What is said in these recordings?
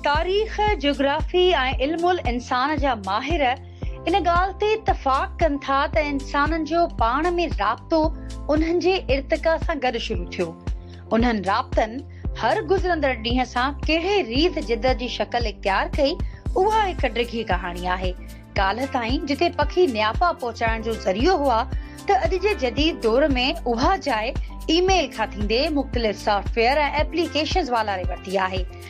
تاريخ، جغرافي ۽ علم الانسان جا ماهر ان ڳالهه تي اتفاق ڪن ٿا ته انسانن جو پاڻ ۾ رابطو انهن جي ارتقا سان گڏ شروع ٿيو. انهن رابطن هر گذرندڙ ڏينهن سان ڪهڙي ريت جدّ جي شڪل اختيار ڪئي، اها هڪ ڊگهي ڪهاڻي آهي. ڪالهه تائين جتي پکي نيافا پهچائڻ جو ذريعو هئا ته اڄ جي جديد دور ۾ اها جاء اي ميل کان ٿيندي مختلف سافٽ ويئر ۽ ايپليڪيشنز والاري ورتي آهي.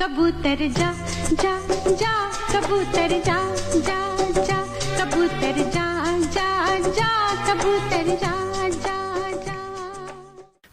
ڪبوتر جا جا جا ڪبوتر جا جا جا ڪبوتر جا جا جا ڪبوتر جا جا جا.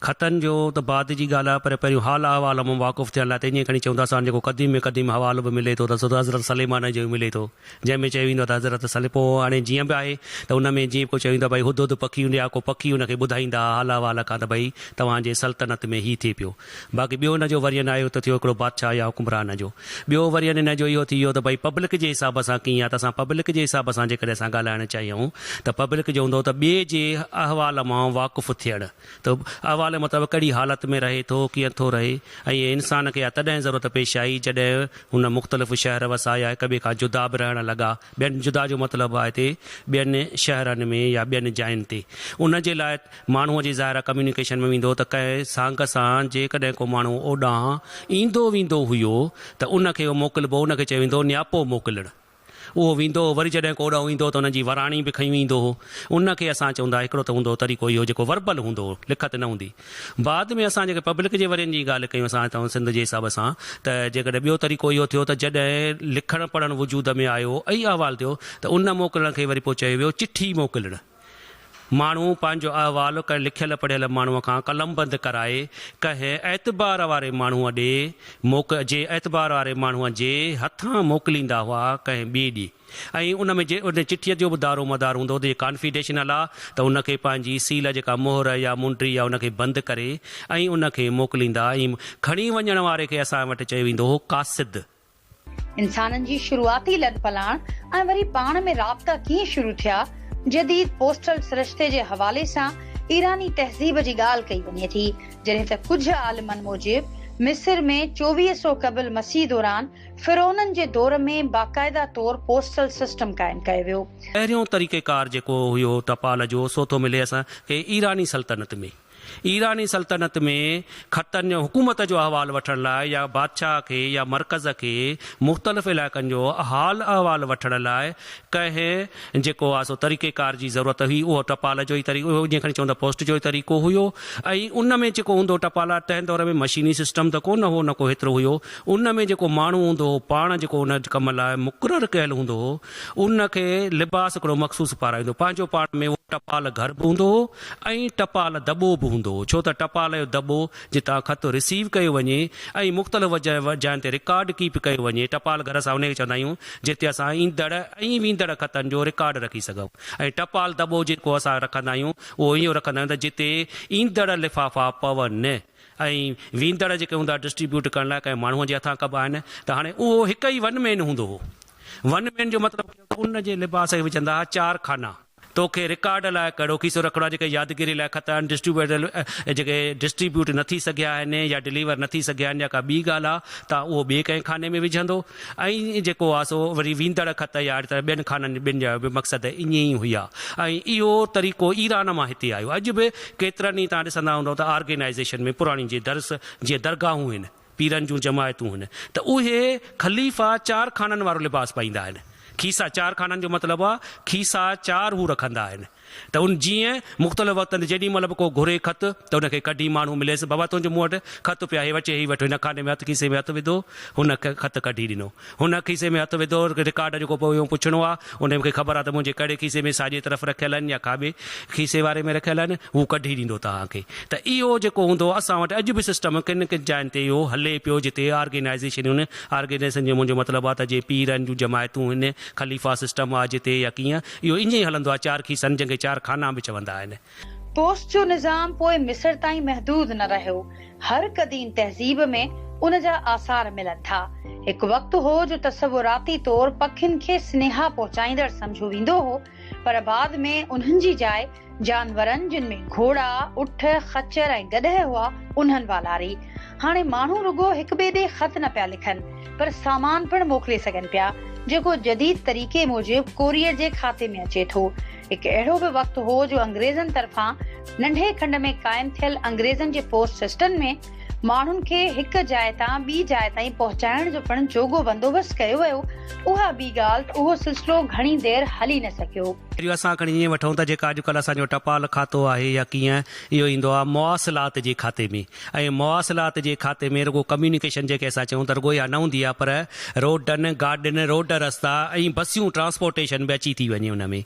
خطن جو ته بعد جي ڳالهه آهي پر پهريون حال احوال مان واقف ٿيڻ لاء ته ائين کڻي چون ٿا سان جيڪو قديم ۾ قديم حوالو به ملي ٿو ته سو ته حضرت سليمان جو ئي ملي ٿو جنهن ۾ چيو ويندو آهي ته حضرت سلي پوء هاڻي جيئن به آهي ته ان ۾ جيئن ڪو چيو ويندو آهي ڀئي هدهد پکي هوندي آهي ڪو پکي ان کي ٻڌائيندا ها حال احوال کان ته ڀئي توهان جي سلطنت ۾ هي ٿئي پيو باقي ٻيو ان جو وريئن آهيو ته ٿيو هڪڙو بادشاهه يا حڪمران جو. ٻيو وريئن ان جو اهو ٿي ويو ته ڀئي پبلڪ جي حساب سان ڪيئن آهي ته اسان پبلڪ جي حساب سان جيڪڏهن اسان ڳالهائڻ چاهيون ته پبلڪ جو هوندو ته ٻئي جي احوال مان واقف ٿيڻ ته احوال مطابق ڪهڙي حالت ۾ رهي ٿو ڪيئن ٿو رهي ۽ انسان کي اها تڏهن ضرورت پيش آئي جڏهن هن مختلف شهر وسايا يا هڪ ٻئي کان جدا به رهڻ لڳا ٻين جدا جو مطلب آهي ته ٻين شهرن ۾ يا ٻين جاين تي ان جي لاء ماڻهوء جي ظاهرا ڪميونيڪيشن ۾ ويندو ته ڪنهن سانگ سان جيڪڏهن ڪو ماڻهو اوڏانهن ايندو ويندو هيو ته ان کي اهو موڪلبو ان کي چيو ويندو هو نياپو موڪلڻ اهو ويندو هو وري جڏهن ڪو اوڏانهن ايندو هو ته ان جي وراڻي به کنيون ايندو هو ان کي اسان چوندا هڪڙو ته هوندو هو طريقو اهو جيڪو وربل هوندو هو لکت نه هوندي بعد ۾ اسان جيڪي پبلڪ جي ورين جي ڳالهه ڪيون اسان هتان سنڌ جي حساب سان ته جيڪڏهن ٻيو طريقو اهو ٿيو ته جڏهن لکڻ پڙهڻ وجود ۾ آيو ۽ احوال ٿيو ته ان موڪلڻ کي وري پوء چيو ويو چٺي موڪلڻ ماڻهو پنهنجو احوال ڪنهن لکيل پڙهيل ماڻهوء کان قلمبند ڪرائي ڪنهن اعتبار واري ماڻهوء ڏي موڪ جي اعتبار واري ماڻهوء جي هٿان موڪليندا هئا ڪنهن ٻئي ڏي ۽ ان ۾ جي ان چٺيء جو به دارومدار هوندو هو ته جي ڪانفيڊيشنل آ ته ان کي پنهنجي سيل جيڪا مهر يا منڊي آ ان کي بند ڪري ۽ ان کي موڪليندا ۽ کڻي وڃڻ واري کي اسان وٽ چيو ويندو هو قاصد انسانن جي شروعاتي لڏ پلاڻ ۽ وري پاڻ ۾ رابطا ڪيئن شروع ٿيا، جديد پوسٽل سرشتي جي حوالي سان ايراني تهذيب جي ڳالهه ڪئي وڃي ٿي، جڏهن ته ڪجهه عالمن موجب مصر ۾ چوويهه سو قبل مسيح دوران فرعونن جي دور ۾ باقاعده طور پوسٽل سسٽم قائم ڪيو ويو. پهريون طريقيڪار جيڪو هيو ٽپال جو سو ٿو ملي اسان کي ايراني سلطنت ۾. ايراني سلطنت ۾ خطن جو حڪومت جو احوال وٺڻ لاء يا بادشاهه کي يا مرڪز کي مختلف علائقن جو حال احوال وٺڻ لاء ڪنهن جيڪو آ سو طريقي ڪار جي ضرورت هئي اهو ٽپال جو ئي طريقو هيو جنهن کڻي چوندا پوسٽ جو ئي طريقو هيو ۽ ان ۾ جيڪو هوندو ٽپالا تنهن دور ۾ مشيني سسٽم ته ڪونه هو نه ڪو هيترو هيو ان ۾ جيڪو ماڻهو هوندو هو پاڻ جيڪو ان ڪم لاء مقرر ڪيل هوندو هو ان کي لباس هڪڙو مخصوص پارائيندو پنهنجو پاڻ ۾ اهو ٽپال گهر به هوندو هو ۽ ٽپال دٻو به هوندو هو ڇو ته ٽپال جو دٻو جتان خط رسيو ڪيو وڃي ۽ مختلف وجهه جاين تي رڪارڊ ڪيپ ڪيو وڃي ٽپال گهر اسان انهيء کي چوندا آهيون جتي اسان ايندڙ ۽ ويندڙ خطن جو رڪارڊ رکي سگهون ۽ ٽپال دٻو جيڪو اسان رکندا آهيون اهو اهو رکندا آهيون ته جتي ايندڙ لفافا پون ۽ ويندڙ جيڪي هوندا ڊسٽريبيوٽ ڪرڻ لاء ڪنهن ماڻهونء جي هٿان ڪبا آهن ته هاڻي اهو هڪ ئي ون مين هوندو هو ون مين جو مطلب ان جي لباس کي به چوندا ها چار خانا. توکي رڪارڊ لاء ڪهڙو کيسو رکڻو آهي جيڪي يادگيري لاء خط آهن ڊسٽريبيوٽر جيڪي ڊسٽريبيوٽ نه ٿي سگهيا آهن يا ڊليور نه ٿي سگهيا آهن يا ڪا ٻي ڳالهه آهي ته اهو ٻئي ڪنهن خاني ۾ وجهندو ۽ جيڪو آهي سو وري ويندڙ خط يا اهڙي طرح ٻين خانن ٻن جا به مقصد ائين ئي هيا ۽ اهو طريقو ايران مان هتي آيو اڄ به ڪيترن ئي تان ڏسندا هوندئو ته آرگينائيزيشن ۾ پراڻي جي درس جي درگاهون هن پيرن جون جماعتون هن ته اهي خليفا چار خانن وارو لباس پائيندا آهن. کيسا چار خانن جو مطلب آهي کيسا چار هو رکندا آهن ته ان جيئن مختلف وقتن تي جيڏي مهل به ڪو گهري خط ته ان کي ڪڍي ماڻهو مليس بابا تنهنجو مون وٽ خط پيو آهي هي وٺ هي وٺ هن خاني ۾ هٿ کيسي ۾ هٿ وڌو هن خط ڪڍي ڏنو هن هڪ کيسي ۾ هٿ وڌو، رڪارڊ جيڪو پوء اهو پڇڻو آ، ان مونکي خبر آ ته منهنجي ڪهڙي کيسي ۾ ساڄي طرف رکيل آهن يا کاٻي کيسي واري ۾ رکيل آهن، هو ڪڍي ڏيندو توهانکي. ته اهو جيڪو هوندو اسان وٽ اڄ به سسٽم ڪن ڪن جاين تي اهو هلي پيو جتي آرگينائيزيشنون، آرگينائيزيشن جو منهنجو مطلب آ ته جي پير آهن جون جماعتون هن خليفا سسٽم آ جتي يا ڪيئن اهو ائين ئي هلندو آ چار کيسن جنهن کي چار خانا به چوندا آهن. پوسٽ جو نظام پوء مصر تائين محدود نه رهيو. هر قديم تهذيب ۾ ان جا آثار ملن ٿا. هڪ وقت هو جو تصوراتي طور پکين کي سنيها پهچائيندڙ سمجهيو ويندو هو، پر بعد ۾ انهن جي جاء جانورن جن ۾ گهوڙا، اٺ، خچر ۽ گڏهه هئا، انهن والاري. هاڻي ماڻهو رڳو هڪ ٻئي ڏي خط نه پيا لکن، پر سامان پڻ موڪلي سگهن پيا، جيڪو جديد طريقي موجب ڪوريئر جي کاتي ۾ اچي ٿو. هڪ اهڙو به وقت هو جو انگريزن طرفان ننڍي کنڊ ۾ قائم ٿيل انگريزن جي پوسٽ سسٽن ۾ ماڻهن کي هڪ جاء تان ٻي جاء تائين پهچائڻ جو پڻ جوڳو بندوبست ڪيو ويو، اها ٻي ڳالهه ته اهو سلسلو گهڻي دير هلي نه سگهيو. پهريون اسان کڻي ائين وٺون ته جيڪا اڄڪلهه اسان جو ٽپال کاتو آهي يا ڪيئن اهو ايندو آهي مواصلات جي کاتي ۾ ۽ مواصلات جي کاتي ۾ رڳو ڪميونيڪيشن جنهن کي اسان چئون ٿا رڳو اها نه هوندي آهي پر روڊن، گاڏين، روڊ رستا ۽ بسيون ٽرانسپورٽيشن به اچي ٿي وڃي ان ۾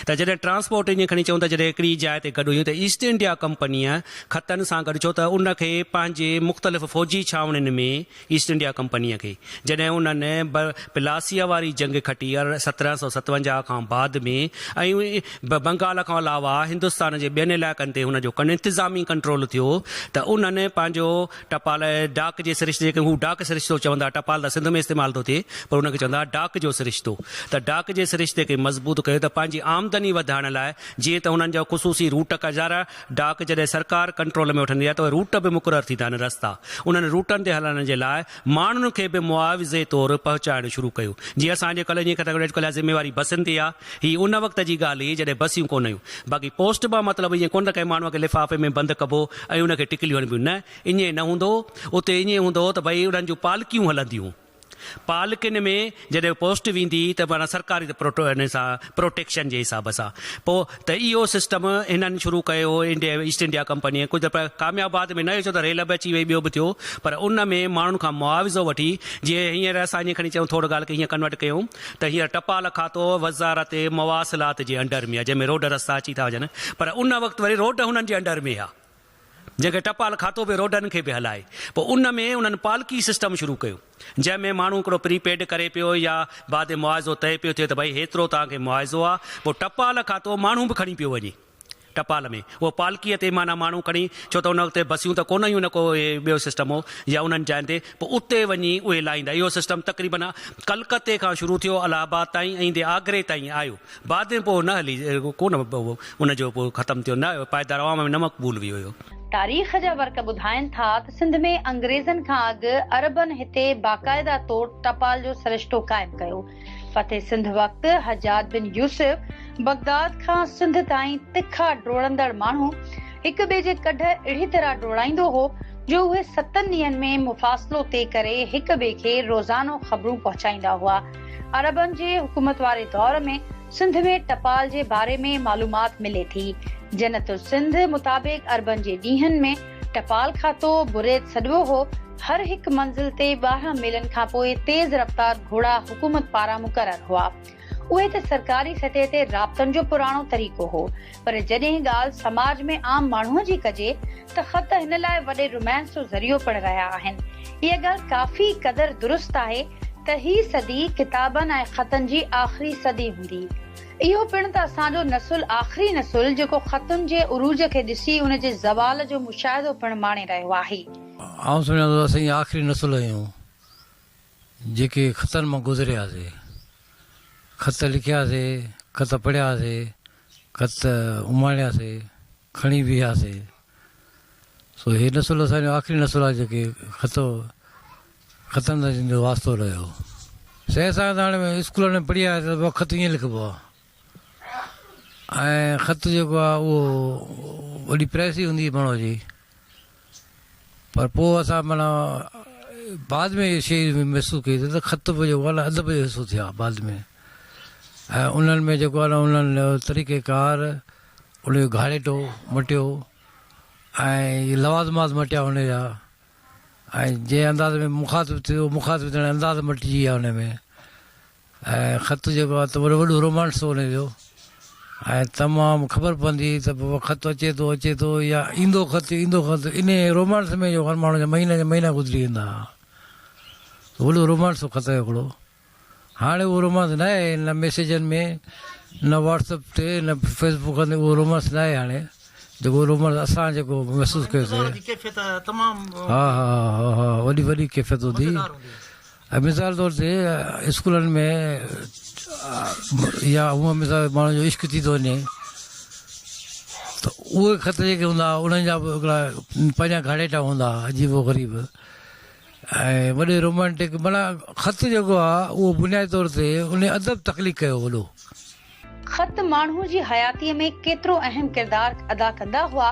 ته جڏهن ٽرانسپورٽ ايئن کڻي چئون ته جڏهن هڪڙي جاء تي گڏ هيون ته ايسٽ انڊيا ڪمپنيء ختن سان گڏ ڇو ته ان کي پنهنجي مختلف فوجي ڇانوڻين ۾ ايسٽ انڊيا ڪمپنيء کي جڏهن انهن ب پلاسيء واري جنگ کٽي ار سترهن سؤ ستونجاهه کان بعد ۾ ۽ ب بنگال کان علاوه هندستان جي ٻين علائقن تي هن جو ڪن انتظامي ڪنٽرول ٿيو ته انهن پنهنجو ٽپال ڊاڪ جي سرشتي جنهن کي هو ڊاڪ سرشتو چوندا ٽپال ته سنڌ ۾ استعمال ٿو ٿئي پر ان کي چوندا ها ڊاڪ جو سرشتو ته ڊاڪ جي سرشتي کي مضبوط ڪيو ته پنهنجي آمدني وڌائڻ لاء جيئن ته هنن جا خصوصي روٽ ڪجارا ڊاڪ جڏهن سرڪار ڪنٽرول ۾ وٺندي آهي ته اهي روٽ به مقرر ٿيندا آهن رستا انهن روٽن تي هلڻ جي لاء ماڻهن کي به معاوضي طور پهچائڻ شروع ڪيو جي اسان جي ڪلهي جي ڪٿڪڙي اڄڪلهه جا ذميواري بسن تي آهي هي ان وقت جي ڳالهه هئي جڏهن بسيون ڪونه هيون باقي پوسٽ مان مطلب ائين ڪونه ته ڪنهن ماڻهو کي لفافي ۾ بند ڪبو ۽ ان کي ٽڪليون هڻبيون نه ائين نه هوندو هو اتي ائين هوندو هو ته ڀئي انهن جون پالڪيون هلنديون هون. پالڪين ۾ جڏهن پوسٽ ويندي ته معنيٰ سرڪاري ته پروٽو ان سان پروٽيڪشن جي حساب سان پوء ته اهو سسٽم هنن شروع ڪيو هو انڊيا ايسٽ انڊيا ڪمپنيء ڪجهه پر ڪامياب بعد ۾ نه هيو ڇو ته ريل به اچي وئي ٻيو به ٿيو پر ان ۾ ماڻهن کان معاوضو وٺي جيئن هينئر اسان جيئن کڻي چئون ٿورڙ ڳالهه کي هيئن ڪنورٽ ڪيون ته هينئر ٽپال کاتو وزارت مواصلات جي انڊر ۾ آهي جنهن ۾ روڊ رستا اچي ٿا وڃن پر ان وقت وري روڊ هنن جي انڊر ۾ هيا. جنهن کي ٽپال کاتو به روڊن کي به هلائي پوء ان ۾ انهن پالڪي سسٽم شروع ڪيو جنهن ۾ ماڻهو هڪڙو پري پيڊ ڪري پيو يا بعد معاوضو طئي پيو ٿئي ته ڀئي هيترو توهان کي معاوضو آ پوء ٽپال کاتو ماڻهو به کڻي پيو وڃي ٽپال ۾ اهو پالڪي تي معنيٰ ماڻهو کڻي ڇو ته ان وقت بسيون ته ڪونه هيون نه ڪو اهي ٻيو سسٽم هو يا انهن جاين تي پوء اتي وڃي اهي لاهيندا اهو سسٽم تقريبن ڪلڪتي کان شروع ٿيو الهه آباد تائين ۽ ايندي آگري تائين آيو بعد ۾ پوء نه هلي ڪو نه ان جو پوء ختم ٿيو نه پائيدار عوام ۾ نه مقبول ويو اهو. تاريخ جا ورق ٻڌائين ٿا ته سنڌ ۾ انگريزن کان اڳ عربن هتي باقاعده طور ٽپال جو سرشتو قائم ڪيو. فتح سنڌ وقت حجاج بن يوسف بغداد کان سنڌ تائين تکا ڊوڙندڙ ماڻهو هڪ ٻئي جي ڪڍ اهڙي طرح ڊوڙائيندو هو جو اهي ستن ڏينهن ۾ مفاصلو طئي ڪري هڪ ٻئي کي روزانو خبرون پهچائيندا هئا. عربن جي حڪومت واري دور ۾ سنڌ ۾ ٽپال جي باري ۾ معلومات ملي ٿي. جنت السنڌ مطابق عربن جي ڏينهن ۾ ٽپال کاتو، بريت سڏبو هو، هر هڪ منزل تي ٻارهن ميلن کانپوء تيز رفتار گهوڙا حڪومت پاران مقرر هئا. اهي ته سرڪاري سطح تي رابطن جو پراڻو طريقو هو. پر جڏهن ڳالهه سماج ۾ عام ماڻهوء جي ڪجي ته خط هن لاء وڏي رومانس جو ذريعو پڻ رهيا آهن. اها ڳالهه ڪافي قدر درست آهي ته هي صدي ڪتابن ۽ خطن جي آخري صدي هوندي. اهو پڻ ته اسان جو نسل آخري نسل جيڪو خطن جي عروج کي ڏسي ان جي زوال جو مشاهدو پڻ ماڻي رهيو آهي. آئون سمجهان ٿو ته اسين ئي آخري نسل آهيون جيڪي خطن مان گذرياسين. خط لکياسين، خط پڙهياسين. خط اماڻياسي، کڻي بيهياسي. سو هي نسل اسان جو آخري نسل آهي جيڪي خط خطن سان جن جو واسطو رهيو. سائين اسان کي ته هاڻي اسڪولن ۾ پڙهي آياسي ته خط ائين لکبو آهي ۽ خط جيڪو آهي اهو وڏي پريس ئي هوندي هئي ماڻهوء جي. پر پوء اسان معنيٰ بعد ۾ اهي شيء محسوس ڪئي ته خط به جيڪو آهي نه ادب جو حصو ٿيا بعد ۾ ۽ انهن ۾ جيڪو آهي نه انهن جو طريقه ڪار ان جو گهاڙيٽو مٽيو ۽ لوازمات مٽيا ان جا ۽ جنهن انداز ۾ مخاطب ٿيو مخاطب ٿيڻ جا انداز مٽجي ويا ان ۾ ۽ خط جيڪو آهي ته وري وڏو رومانس ٿو وڃي پيو ۽ تمام خبر پوندي ته بابا خط اچي ٿو اچي ٿو يا ايندو خط ايندو خط ان رومانس ۾ جو هر ماڻهو جا مهينا جا مهينا گذري ويندا هئا وڏو رومانس هو خط هڪڙو هاڻي اهو رومانس نه آهي نه ميسيجن ۾ نه واٽسپ تي نه فيسبوڪ تي اهو رومانس نه آهي هاڻي جيڪو رومانس اسان جيڪو محسوس ڪيوسي ها ها ها وڏي وڏي ڪيفيت هوندي مثال طور تي اسڪولن ۾ يا هونء مثال ماڻهن جو عشق ٿي ٿو وڃي ته اهي خط جيڪي هوندا هئا انهن جا به هڪڙا پنهنجا گهاڙيٽا هوندا هئا عجيب و غريب ۽ وڏي رومانٽڪ معنيٰ خط جيڪو آهي اهو بنيادي طور تي ان ادب تخليق ڪيو وڏو خط ماڻهو جي حياتيء ۾ ڪيترو اهم ڪردار ادا ڪندا هئا،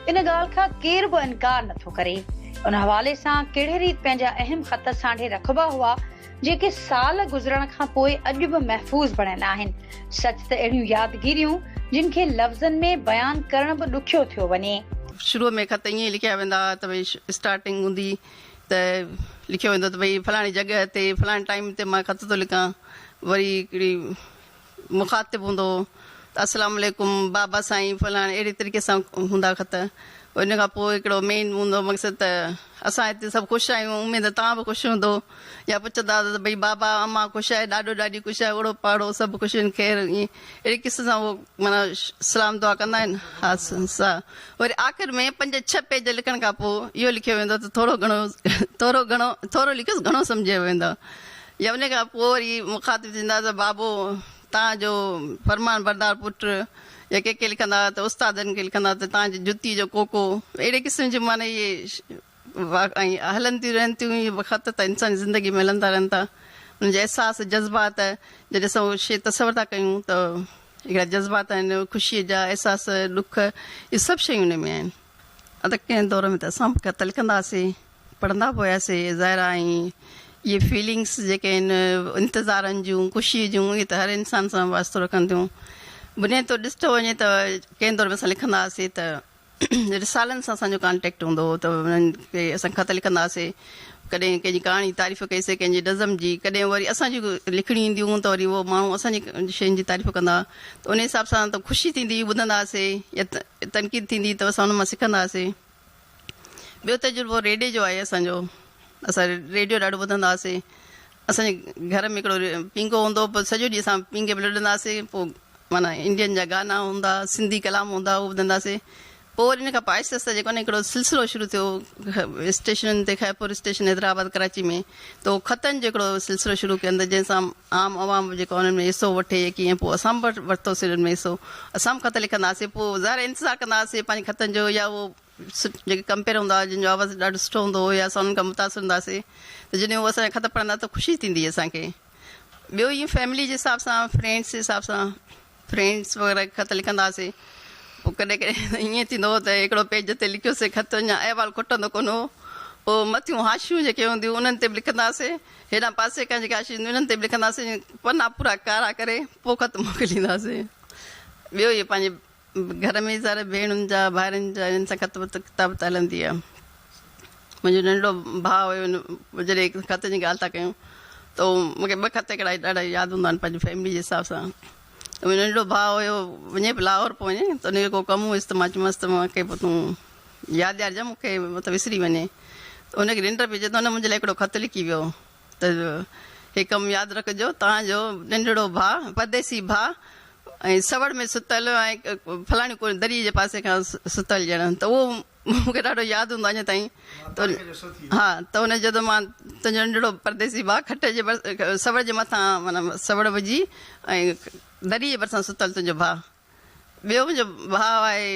ان ڳالهه کان ڪير به انڪار نه ٿو ڪري. ان حوالي سان ڪهڙي ريت پنهنجا اهم خط سانڍي رکبا هئا، جيڪي سال گذرڻ کان پوء اڄ به محفوظ بڻيل آهن. سچ ته اهڙيون يادگيريون، جن کي لفظن ۾ بيان ڪرڻ به ڏکيو ٿيو وڃي. شروع ۾ خط ائين ئي لکيا ويندا هئا ته ڀئي اسٽارٽنگ هوندي ته لکيو ويندو ته ڀئي فلاڻي جڳهه تي فلاڻي ٽائيم تي مان خط ٿو لکان. وري هڪڙي مخاطب هوندو هو ته السلام عليڪم بابا سائين فلاڻي اهڙي طريقي سان هوندا خط ان کان پوء هڪڙو مين هوندو مقصد ته اسان هتي سڀ خوش آهيون اميد توهان به خوش هوندو يا پڇندا ته ڀئي بابا امان خوش آهي ڏاڏو ڏاڏي خوش آهي اوڙو پاڙو سڀ خوش آهن خير ائين اهڙي قسم سان هو مانا سلام دعا ڪندا آهن ها سا وري آخر ۾ پنج ڇهه پيج لکڻ کان پوء اهو لکيو ويندو ته ٿورو گهڻو ٿورو گهڻو ٿورو لکيس گهڻو سمجهيو ويندو يا انهيء کان پوء وري مخاطب ٿيندا ته بابو توهان جو فرمان بردار پٽ يا ڪي ڪي لکندا ته استادن کي لکندا ته توهان جي جتي جو ڪوڪو اهڙي قسم جون معنيٰ اهي ۽ هلن ٿيون رهن ٿيون اهي خط ته انساني زندگي ۾ هلندا رهن ٿا انهن جا احساس جذبات جڏهن اسان اهو شعر تصور ٿا ڪيون ته هڪڙا جذبات آهن خوشي جا احساس ڏک اهي سڀ شيون انهن ۾ آهن ته ڪنهن دور ۾ ته اسان به خط لکندا هئاسين. پڙهندا به هياسي ظاهر آ ۽ اهي فيلنگس جيڪي آهن انتظارن جون خوشي جون اهي ته هر انسان سان واسطو رکن ٿيون بنيادي طور ڏسٺو وڃي ته ڪنهن دور ۾ اسان لکندا هئاسي ته رسالن سان اسان جو ڪانٽيڪٽ هوندو هو ته انهن کي اسان خط لکندا هئاسي ڪڏهن ڪنهن جي ڪهاڻي جي تعريف ڪئي سي ڪنهن جي نظم جي ڪڏهن وري اسان جي لکڻي اينديون هون ته وري اهو ماڻهو اسان جي شين جي تعريف ڪندا ته انهي حساب سان ته خوشي ٿيندي هئي ٻڌندا هئاسي يا تنقيد ٿيندي ته اسان ان مان سکندا هئاسي ٻيو تجربو ريڊيو جو آهي اسان جو اسان ريڊيو ڏاڍو ٻڌندا هئاسين اسان جي گهر ۾ هڪڙو پينگهو هوندو هو پوء سڄو ڏينهن اسان پينگهي ۾ لڏندا هئاسين پوء معنيٰ انڊين جا گانا هوندا هئا سنڌي ڪلام هوندا هئا اهو ٻڌندا هئاسين پوء وري ان کان پوء آهستي آهستي جيڪو آهي نه هڪڙو سلسلو شروع ٿيو اسٽيشنن تي خيرپور اسٽيشن حيدرآباد ڪراچي ۾ ته اهو خطن جو هڪڙو سلسلو شروع ڪيو جنهن سان عام عوام به جيڪو انهن ۾ حصو وٺي يقين ۽ پوء اسان به ورتوسين انهن ۾ حصو اسان به خط لکنداسين پوء ظاهر آهي انتظار ڪندا هئاسين پنهنجي خطن جو يا اهو جيڪي ڪمپيئر هوندا هئا جن جو آواز ڏاڍو سٺو هوندو هو يا اسان انهن کان متاثر هوندا سين ته جڏهن هو اسان جا خط پڙهندا ته خوشي ٿيندي هئي اسان کي ٻيو ائين فيملي جي حساب سان فرينڊس جي حساب سان فرينڊس وغيره کي خط لکنداسين پوء ڪڏهن ڪڏهن ائين ٿيندو هو ته هڪڙو پيج تي لکيو سي خط اڃا احوال کوٽندو ڪونه هو پوء مٿيون حاشيون جيڪي هونديون هون انهن تي به لکنداسين هيڏانهن پاسي کان جيڪي حاشيون هونديون هن تي به لکنداسين پنا پورا ڪارا ڪري پوء خط موڪلينداسين ٻيو اهي پنهنجي گهر ۾ ساري ڀيڻن جا ڀائرن جا انهن سان خط وت ڪتابت هلندي هئي. منهنجو ننڍڙو ڀاء هيو ان جڏهن خطن جي ڳالهه ٿا ڪيون ته مون کي ٻه خط هڪڙا ڏاڍا ياد هوندا آهن پنهنجي فيملي جي حساب سان منهنجو ننڍڙو ڀاء هيو وڃي به لاهور پيو وڃي ته ان جو ڪو ڪم هيس ته مان چيمانس ته مان کي پوء تون ياد ڏيارجان مون کي مت وسري وڃي ته ان کي ننڊ پئجي ته ان منهنجي لاء هڪڙو خط لکي ويو ته هي ڪم ياد رکجو توهان جو ننڍڙو ڀاء پرديسي ڀاء ۽ سوڙ ۾ ستل ۽ فلاڻي ڪو دري جي پاسي کان ستل ڄڻ ته اهو مون کي ڏاڍو ياد هوندو آهي اڃا تائين ها ته ان جدو مان تنهنجو ننڍڙو پرديسي ڀاء کٽ جي سوڙ جي مٿان معنيٰ سوڙ وجهي ۽ دريء جي ڀرسان ستل تنهنجو ڀاء ٻيو منهنجو ڀاء آهي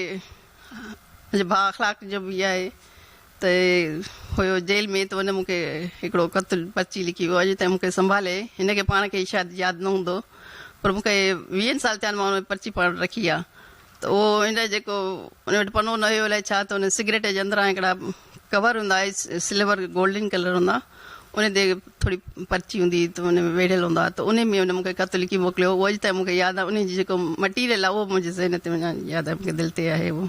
منهنجو ڀاء اخلاق جو به آهي ته هيو جيل ۾ ته ان مون کي هڪڙو خط پرچي لکي ويو اڄ تائين مون کي سنڀالي هن کي پاڻ کي شايد ياد نه هوندو پر مون کي ويهن سال ٿيا آهن مان ان ۾ پرچي پاڻ وٽ رکي آهي ته اهو ان لاء جيڪو ان وٽ پنو نه هيو الائي ڇا ته ان سگريٽ جي اندران هڪڙا ڪور هوندا هئا سلور گولڊن ڪلر هوندا ان تي ٿوري پرچي هوندي هئي ته ان ۾ ويڙهيل هوندا ته ان ۾ ان مونکي خط لکي موڪليو هو اڄ تائين مونکي ياد آهي ان جي جيڪو مٽيريل آهي اهو منهنجي ذهن تي اڃا ياد آهي مونکي دل تي آهي اهو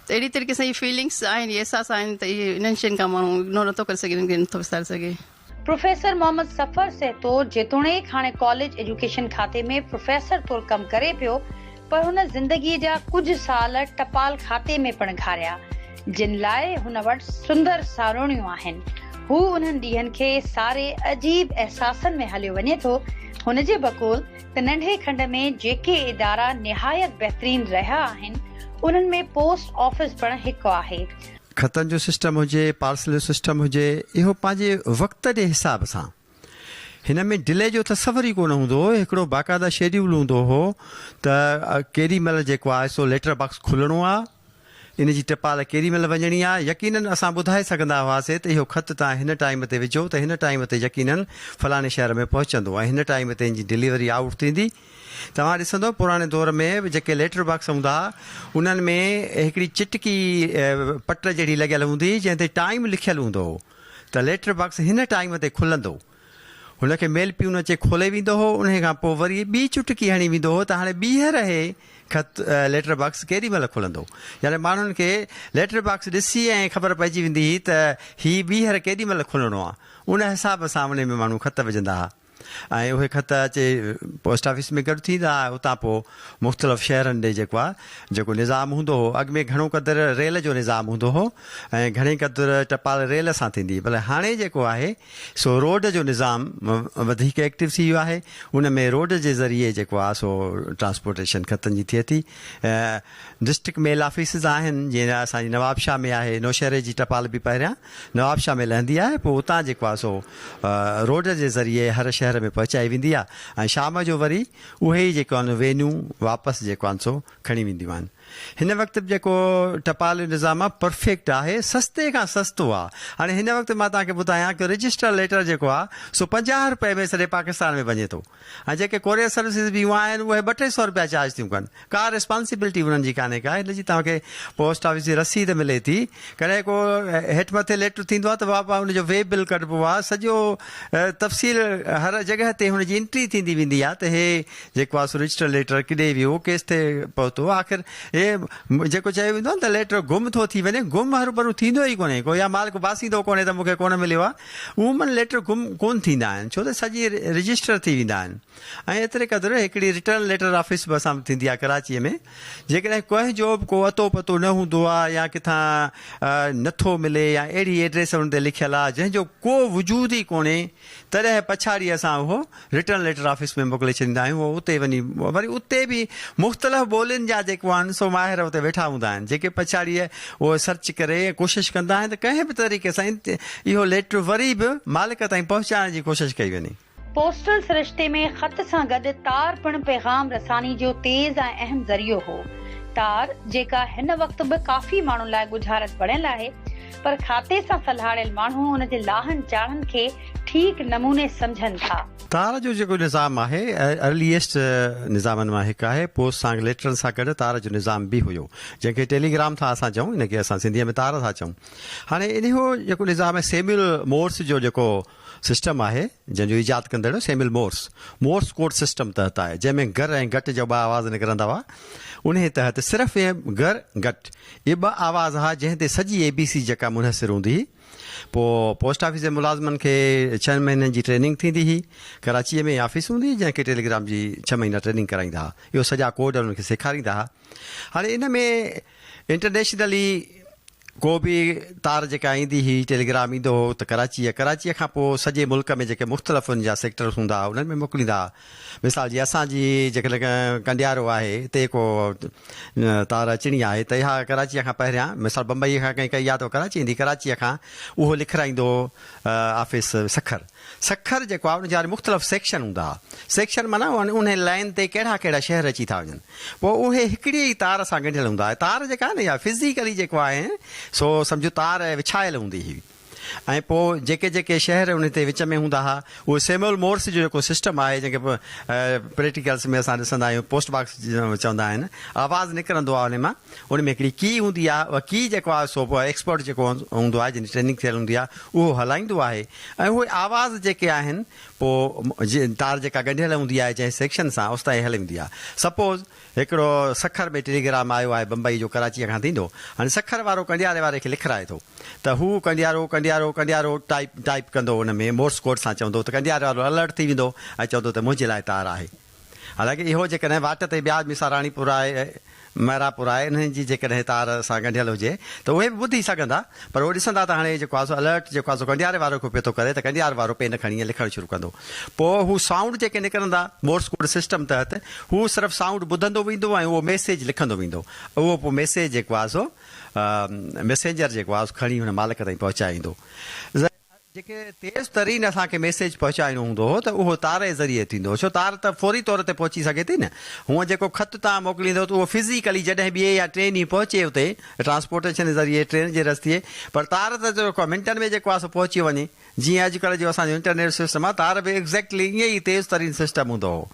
ته اهڙي طريقي سان هي فيلنگس آهن احساس آهن ته اهي انهن شين کان ماڻهو اگنور نٿو ڪري سگهي انهن کي نٿو وساري سگهي. پروفيسر محمد سفر سهتو جيتوڻيڪ هاڻي ڪاليج ايجوڪيشن کاتي ۾ پروفيسر طور ڪم ڪري پيو پر هن زندگي جا ڪجهه سال ٽپال کاتي ۾ پڻ گهاريا جن لاء هن وٽ سندر ساروڻيون آهن هو انهن ڏينهن کي ساري عجيب احساسن ۾ هليو وڃي ٿو هن جي بقول ته ننڍي کنڊ ۾ جيڪي ادارا نهايت بهترين رهيا آهن انهن ۾ پوسٽ آفيس پڻ هڪ آهي خطن جو سسٽم هجي، پارسل جو سسٽم هجي، اهو پنهنجي وقت جي حساب سان. هن ۾ ڊلي جو تصور ئي ڪونه هوندو هو، هڪڙو باقاعده شيڊيول هوندو هو ته ڪيڏي مهل جيڪو آهي سو ليٽر باڪس کلڻو آهي، ان جي ٽپال ڪيڏي مهل وڃڻي آهي، يقينن اسان ٻڌائي سگهندا هئاسين ته اهو خط توهان هن ٽائيم تي وجهو ته هن ٽائيم تي يقينن فلاڻي شهر ۾ پهچندو ۽ هن ٽائيم تي ان جي ڊليوري آئوٽ ٿيندي. توهان ڏسندؤ پراڻي دور ۾ به جيڪي ليٽر باڪس هوندا ها انهن ۾ هڪڙي چٽڪي پٽ جهڙي لڳيل هوندي هئي جنهن تي ٽائيم لکيل هوندو هو ته ليٽر باڪس هن ٽائيم تي کلندو هن کي ميل پيون اچي کولي ويندو هو انهي کان پوء وري ٻي چٽڪي هڻي ويندو هو ته هاڻي ٻيهر هي خط ليٽر باڪس ڪيڏي مهل کلندو يعني ماڻهن کي ليٽر باڪس ڏسي ائين خبر پئجي ويندي هئي ته هي ٻيهر ڪيڏي مهل کلڻو آ ان حساب سان انهي ۾ ماڻهو خط وجهندا ها. ۽ اهي خط اچي پوسٽ آفيس ۾ گڏ ٿيندا ۽ اتان پوء مختلف شهرن ڏي جيڪو آ جيڪو نظام هوندو هو اڳ ۾ گهڻو قدر ريل جو نظام هوندو هو ۽ گهڻي قدر ٽپال ريل سان ٿيندي پر هاڻي جيڪو آهي سو روڊ جو نظام وڌيڪ ايڪٽو ٿي ويو آهي ان ۾ روڊ جي ذريعي جيڪو آ سو ٽرانسپورٽيشن خطن جي ٿئي ٿي ڊسٽرڪٽ ميل آفيسز آهن جيئن اسان جي نوابشاهه ۾ آهي نوشهري جي ٽپال به پهريان نوابشاهه ۾ لهندي آهي پوء اتان جي ڪواسو روڊ جي ذريعي هر شهر ۾ پهچائي ويندي آهي ۽ شام جو وري اهي ئي جيڪو آهن وينون واپس جيڪو آهن سو کڻي وينديون آهن هن وقت به جيڪو ٽپال جو نظام آهي پرفيڪٽ آهي سستي کان سستو آهي هاڻي هن وقت مان توهان کي ٻڌايان ڪيو رجسٽر ليٽر جيڪو آهي سو پنجاهه روپئي ۾ سڄي پاڪستان ۾ وڃي ٿو ۽ جيڪي ڪوريئر سروسز به يون آهن اهي ٻه ٽي سئو رپيا چارج ٿيون ڪن ڪا ريسپانسيبلٽي انهن جي ڪانهي ڪا هن جي توهان کي پوسٽ آفيس جي رسيد ملي ٿي ڪڏهن ڪو هيٺ مٿي ليٽر ٿيندو آهي ته واپار ان جو وي بل ڪڍبو آهي سڄو تفصيل هر جڳهه تي هن جي انٽري ٿيندي ويندي آهي ته هي جيڪو آهي سو رجسٽر ليٽر ڪيڏي ويو ڪيس تي پهتو آخر هي جيڪو چيو ويندو آهي ته ليٽر گم ٿو ٿي وڃي گم هروڀرو ٿيندو ئي ڪونهي ڪو يا مالڪ باسيندو ڪونهي ته مون کي ڪونه مليو آهي عموماً ليٽر گم ڪونه ٿيندا آهن ڇو ته سڄي رجسٽر ٿي ويندا آهن ۽ ايتري قدر هڪڙي رٽرن ليٽر آفيس به اسان وٽ ٿيندي آهي ڪراچيء ۾ جيڪڏهن ڪنهن جو به ڪو اتو پتو نه هوندو آهي يا ڪٿان نه ٿو ملي يا اهڙي ايڊريس ان تي لکيل آهي جنهن جو ڪو وجود ئي ڪونهي تڏهن پڇاڙي اسان اهو رٽن ليٽر آفيس ۾ موڪلي ڇڏيندا آهيون هو اتي وڃي وري اتي به مختلف ٻولين جا جيڪو آهن سو ماهر اتي ويٺا هوندا آهن جيڪي پڇاڙيء اهو سرچ ڪري ڪوشش ڪندا آهن ته ڪنهن به طريقي سان اهو ليٽر وري به مالڪ تائين پهچائڻ جي ڪوشش ڪئي وڃي. پوسٽل سرشتي ۾ خط سان گڏ تار پڻ پيغام رساني جو تيز ۽ اهم ذريعو هو. تار جيڪا هن وقت به ڪافي ماڻهن لاء ڳجهارت بڻيل آهي، پر کاتي سان سلهاڙيل ماڻهو ان جي لاهن چاڙهن کي ٺيڪ نموني سمجهن ٿا. تار جو جيڪو نظام آهي، ارليئسٽ نظامن مان هڪ آهي. پوسٽ سانگ ليٽرن سان گڏ تار جو نظام به هيو، جنهن کي ٽيلي گرام ٿا اسان چئون، ان کي اسان سنڌيء ۾ تار ٿا چئون. هاڻي انهيء جيڪو نظام آهي سيميول مورس جو جيڪو سسٽم آهي جنهن جو ايجاد ڪندڙ Samuel Morse Morse code system تحت آهي جنهن ۾ گر ۽ گٽ جا ٻه آواز نڪرندا هئا انهي تحت صرف ۽ گر گٽ اهي ٻه آواز ها جنهن تي سڄي اي بي سي جيڪا منحصر هوندي هئي پوء پوسٽ آفيس جي ملازمن کي ڇهن مهينن جي ٽريننگ ٿيندي هئي ڪراچي ۾ آفيس هوندي هئي جنهن کي ٽيليگرام جي ڇهه مهينا ٽريننگ ڪرائيندا هئا اهو سڄا ڪوڊ انهن کي سيکاريندا هئا هاڻي ان ۾ انٽرنيشنلي ڪو به تار جيڪا ايندي هئي ٽيليگرام ايندو هو ته ڪراچي يا ڪراچي کان پوء سڄي ملڪ ۾ جيڪي مختلف ان جا سيڪٽرس هوندا ها انهن ۾ موڪليندا ها مثال جي اسان جي جيڪڏهن ڪنڊيارو آهي تي ڪو تار اچڻي آهي ته اها ڪراچي کان پهريان مثال بمبئي کان ڪنهن ڪئي ها ته ڪراچي ايندي ڪراچي کان اهو لکرائيندو هو آفيس سکر سکر جيڪو آهي ان جا وري مختلف سيڪشن هوندا ها. سيڪشن معنيٰ انهي لائين تي ڪهڙا ڪهڙا شهر اچي ٿا وڃن. پوء اهي هڪڙيء ئي تار سان ڳنڍيل هوندا ها. تار جيڪا آهي نه اها فزيڪلي جيڪو آهي سو سمجهه تار وڇايل هوندي هئي ۽ پوء جيڪي جيڪي شهر انهي تي وچ ۾ هوندا ها اهي سيمول مورس جو جيڪو سسٽم آهي جنهن کي پريٽيڪلس ۾ اسان ڏسندا آهيون پوسٽ باڪس چوندا آهن آواز نڪرندو آهي انهي مان ان ۾ هڪڙي ڪي هوندي آهي اها ڪي جيڪو آهي سو ايڪسپرٽ جيڪو هوندو آهي جنهن جي ٽريننگ ٿيل هوندي آهي اهو هلائيندو آهي ۽ اهي آواز جيڪي آهن پوء تار جيڪا ڳنڍيل هوندي آهي جنهن سيڪشن سان اوستائين هلي ويندي آهي سپوز هڪڙو سکر ۾ ٽيليگرام آيو آهي بمبئي جو ڪراچيء کان ٿيندو هاڻي سکر وارو ڪنڊياري واري کي لکرائي ٿو ته هو ڪنڊيارو ڪنڊيارو ڪنڊيارو ٽائيپ ٽائيپ ڪندو ان ۾ مورس ڪوڊ سان چوندو ته ڪنڊياري وارو الرٽ ٿي ويندو ۽ چوندو ته منهنجي لاء تار آهي حالانڪ اهو جيڪڏهن واٽ تي ٻيا مثال راڻيپور آء محرابپور آء انهن جي جيڪڏهن تار سان ڳنڍيل هجي ته اهي به ٻڌي سگهندا پر اهي ڏسندا ته هاڻي جيڪو آسو الرٽ جيڪو آسو ڳنڍياري وارو کي پيو ٿو ڪري ته ڳنڍيار وارو پين کڻي ائين لکڻ شروع ڪندو پوء هو سائونڊ جيڪي نڪرندا مورس ڪوڊ سسٽم تحت هو صرف سائونڊ ٻڌندو ويندو ۽ اهو ميسيج لکندو ويندو اهو پوء ميسيج جيڪو آسو ميسينجر جيڪو آسو کڻي هن مالڪ تائين پهچائيندو جيڪي تيز ترين اسان کي ميسيج پهچائڻو هوندو هو ته اهو تاري ذريعي ٿيندو هو ڇو تار ته فوري طور تي پهچي سگهي ٿي نه هونء جيڪو خط توهان موڪليندو ته اهو فزيڪلي جڏهن ٻئي يا ٽئين ڏينهن پهچي اتي ٽرانسپورٽيشن جي ذريعي ٽرين جي رستي پر تار ته جيڪو منٽن ۾ جيڪو آهي سو پهچي وڃي جيئن اڄڪلهه جو اسان جو انٽرنيٽ سسٽم آهي تار به ايگزيڪٽلي ائين ئي تيز ترين سسٽم هوندو هو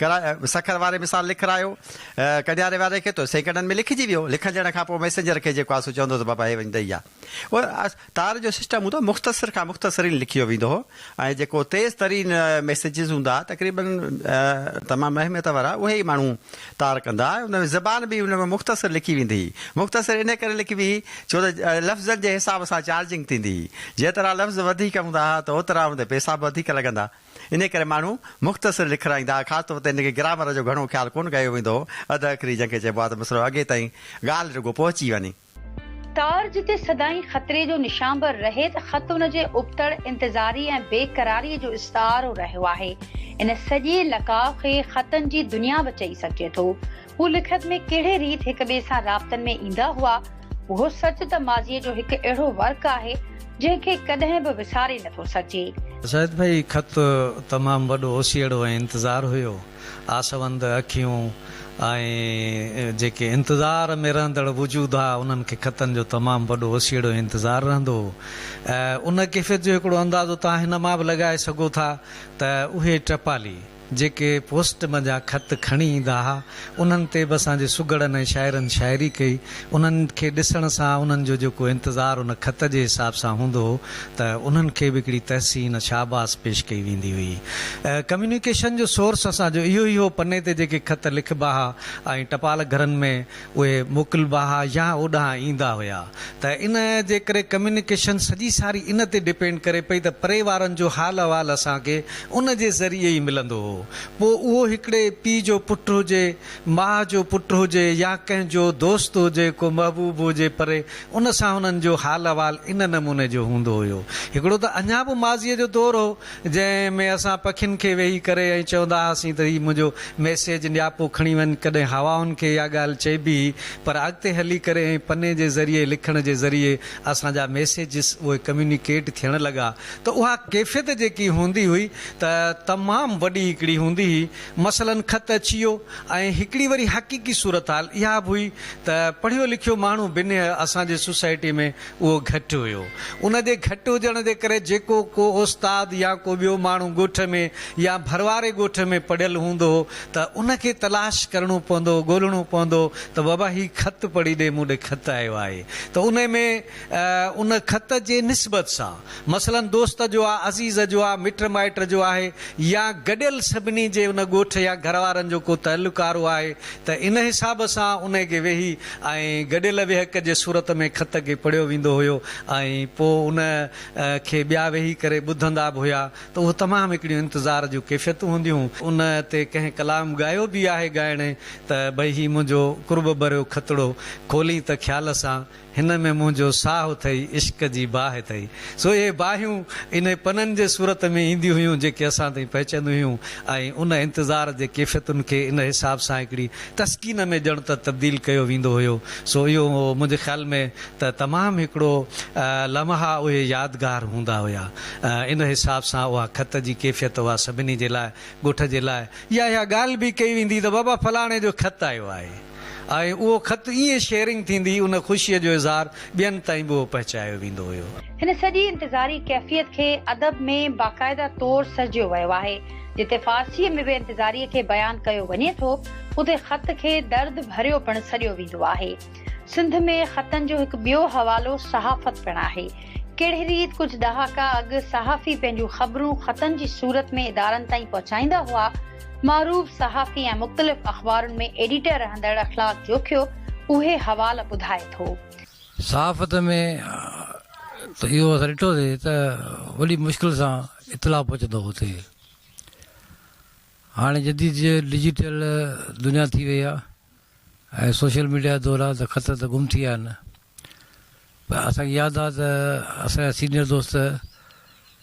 ڪرا سکر واري مثال لکرايو ڪنياري واري کي ته سيڪنڊن ۾ لکجي ويو لکجڻ کان پوء ميسينجر کي جيڪو آهي سو چوندو ته بابا هي وڃ ڏئي آ تار جو سسٽم هوندو هو مختصر کان مختصرين لکيو ويندو هو ۽ جيڪو تيز ترين ميسيجز هوندا ها تقريباً تمام اهميت وارا اهي ئي ماڻهو تار ڪندا ها ان ۾ زبان به ان ۾ مختصر لکي ويندي هئي مختصر انهي ڪري لکبي هئي ڇو ته لفظن جي حساب سان چارجنگ ٿيندي هئي جيترا لفظ وڌيڪ هوندا ها ته اوترا ان تي پئسا به وڌيڪ لڳندا انهي ڪري ماڻهو مختصر لکرائيندا ها خاص طور تي ان کي گرامر جو گهڻو خيال ڪونه ڪيو ويندو هو اڌ اکري جنهن کي چئبو ها ته مسئلو اڳي تائين ڳالهه رڳو پهچي وڃي تار جتي سدائين خطري جو نشان به رهي ته خط ان جي ابتڙ، انتظاري ۽ بي قراريء جو استعارو رهيو آهي. ان سڄي لقاء کي خطن جي دنيا به چئي سگهجي ٿو. هو لکت ۾ ڪهڙي ريت هڪ ٻئي سان رابطن ۾ ايندا هئا. اهو سچ ته ماضيء جو هڪ اهڙو ورق آهي، جنهن کي ڪڏهن به وساري نه ٿو سگهجي. زاهد ڀائي، خط تمام وڏو اوسيئڙو ۽ انتظار هيو. آسوند اکيون ۽ جيڪي انتظار ۾ رهندڙ وجود ها انهن کي خطن جو تمام وڏو وسيڙو انتظار رهندو هو ۽ ان ڪيفيت جو هڪڙو اندازو توهان هن مان به لڳائي سگهو ٿا ته اهي ٽپالي جيڪي پوسٽ منجهان خط کڻي ايندا ها انهن تي به اسان جي سگهڙن ۽ شاعرن شاعري ڪئي انهن کي ڏسڻ سان انهن جو جيڪو انتظار ان خط جي حساب سان هوندو هو ته انهن کي به هڪڙي تحسين، شاباس، پيش ڪئي ويندي هئي. ڪميونيڪيشن جو سورس اسان جو اهو ئي هو، پني تي جيڪي خط لکبا ها ۽ ٽپال گهرن ۾ اهي موڪلبا ها يا اوڏانهن ايندا هيا ته ان جي ڪري ڪميونيڪيشن سڄي ساري ان تي ڊپينڊ ڪري پئي ته پري وارن جو حال احوال اسان کي ان جي ذريعي ئي ملندو هو. پوء اهو هڪڙي پيء جو پٽ هجي ماء جو پٽ هجي يا ڪنهن جو دوست هجي، ڪو محبوب هجي پري، ان سان هنن جو حال احوال ان نموني جو هوندو هيو. هڪڙو ته اڃا به ماضيء جو دور هو، جنهن ۾ اسان پکين کي ويهي ڪري ائين چوندا هئاسين ته هي منهنجو ميسيج نياپو کڻي وڃ، ڪڏهن هوائن کي اها ڳالهه چئبي هئي، پر اڳتي هلي ڪري ائين پني جي ذريعي لکڻ جي ذريعي اسان جا ميسيجز اهي ڪميونيڪيٽ ٿيڻ لڳا ته اها ڪيفيت جيڪي هوندي هئي ته تمام وڏي هڪڙي هوندي هئي. مثلاً خط اچي ويو ۽ هڪڙي وري حقيقي صورتحال اها به هئي ته پڙهيو لکيو ماڻهو بنهه اسان جي سوسائٽي ۾ اهو گهٽ هيو. ان جي گهٽ هجڻ جي ڪري جيڪو ڪو استاد يا ڪو ٻيو ماڻهو ڳوٺ ۾ يا ڀرواري ڳوٺ ۾ پڙهيل هوندو هو ته ان کي تلاش ڪرڻو پوندو هو ڳولهڻو پوندو هو ته بابا هي خط پڙهي ڏي مون ڏي خط آيو آهي ته انهي ۾ ان خط جي نسبت سان مثلاً دوست جو آ، عزيز جو آ، مٽ مائٽ جو آهي يا گڏيل سڀني جي ان ڳوٺ يا گهر وارن جو ڪو تعلقارو آهي ته ان حساب سان انهي کي ويهي ۽ گڏيل ويهڪ جي صورت ۾ خط کي پڙهيو ويندو هيو ۽ پوء ان کي ٻيا ويهي ڪري ٻڌندا به هيا ته اهو تمام هڪڙيون انتظار جون ڪيفيتون هونديون ان تي ڪنهن ڪلام ڳايو به آهي ڳائڻي ته ڀئي هي منهنجو قرب ڀريو خطڙو کولين ته خيال سان هن ۾ منهنجو ساهه اٿئي، عشق جي باهه اٿئي. سو اهي باهيون انهي پنن جي صورت ۾ اينديون هيون جيڪي اسان تائين پهچنديون هيون ۽ ان انتظار جي ڪيفيتن کي ان حساب سان هڪڙي تسڪين ۾ ڄڻ ته تبديل ڪيو ويندو هيو. سو اهو منهنجي خيال ۾ ته تمام هڪڙو لمحا اهي يادگار هوندا هيا. ان حساب سان اها خط جي ڪيفيت اها سڀني جي لاء ڳوٺ جي لاء يا اها ڳالهه به ڪئي ويندي ته بابا فلاڻي جو خط آيو آهي. آهي اهو خط ائين شيئرنگ ٿيندي ان خوشي جو اظهار ٻين تائين به اهو پهچايو ويندو هيو. هن سڄي انتظاري ڪيفيت کي ادب ۾ باقاعده طور سرجيو ويو آهي. جتي فارسيء ۾ به انتظاريء کي بيان ڪيو وڃي ٿو اتي خط کي درد ڀريو پڻ سڏيو ويندو آهي. سنڌ ۾ خطن جو هڪ ٻيو حوالو صحافت پڻ آهي. ڪهڙي ريت ڪجهه ڏهاڪا اڳ صحافي پنهنجون خبرون خطن جي صورت ۾ ادارن تائين پهچائيندا هئا، معروف صحافي ۽ مختلف اخبارن ۾ ايڊيٽر رهندڙ اخلاق جوکيو اهي حوال ٻڌائي ٿو. صحافت ۾ ته اهو اسان ڏٺوسي ته وڏي مشڪل سان اطلاع پهچندو هو اتي. هاڻي جديد ڊجيٽل دنيا ٿي وئي آهي ۽ سوشل ميڊيا جا دور آهي ته خط ته گم ٿي ويا آهن. پر اسان کي ياد آ ته اسان جا سينئر دوست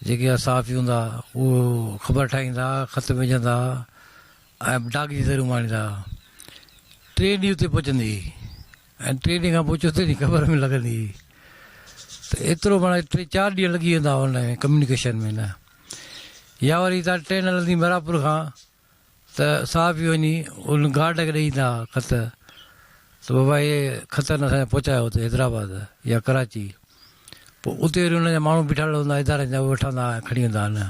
جيڪي ها صحافي هوندا هئا اهي خبر ٺاهيندا ها، خط وجهندا ها ۽ ڊاڪ جي ذريعي اماڻيندا ها. ٽئين ڏينهن اتي پهچندي هئي ۽ ٽئين ڏينهن کان پوء چوٿين ڏينهن خبر ۾ لڳندي هئي ته ايترو معنيٰ ٽي چار ڏينهن لڳي ويندا هئا ان ۾ ڪميونيڪيشن ۾ نه يا وري هتان ٽرين هلندي ميرا پور کان ته صحافي وڃي ان گارڊ کي ڏئي ايندا ھئا خط ته بابا اھي خط ھن اسان جا پھچايو اتي حيدرآباد يا ڪراچي پوء اتي وري انھن جا ماڻھو بيٺل ھوندا ھئا ادارن جا اھي وٺندا ھئا ۽ کڻي ويندا ھئا نه